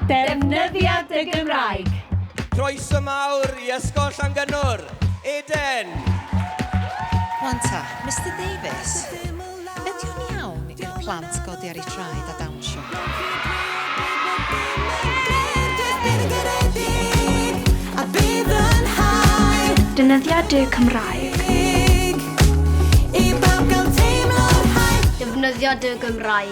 Defnyddiad y Gymraeg. Croeso mawr i Ysgol Llangynwr, Eden! Wan ta, Mister Davies, ydio'n iawn i'r plant godi ar eu traed a dawnsio? Defnyddiad y Gymraeg. Defnyddiad y Gymraeg.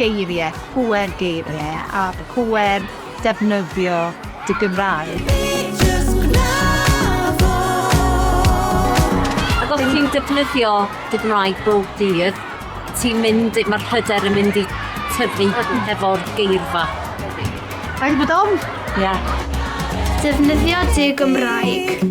Geiriau, pŵer geiriau a pŵer defnyddio dy Gymraeg. Ac os ti'n defnyddio dy Gymraeg bob dydd, ti'n mynd... mae'r hyder yn mynd i tyfu hefo'r geirfa. Rhaid bod ofn! Ie. Defnyddio dy Gymraeg.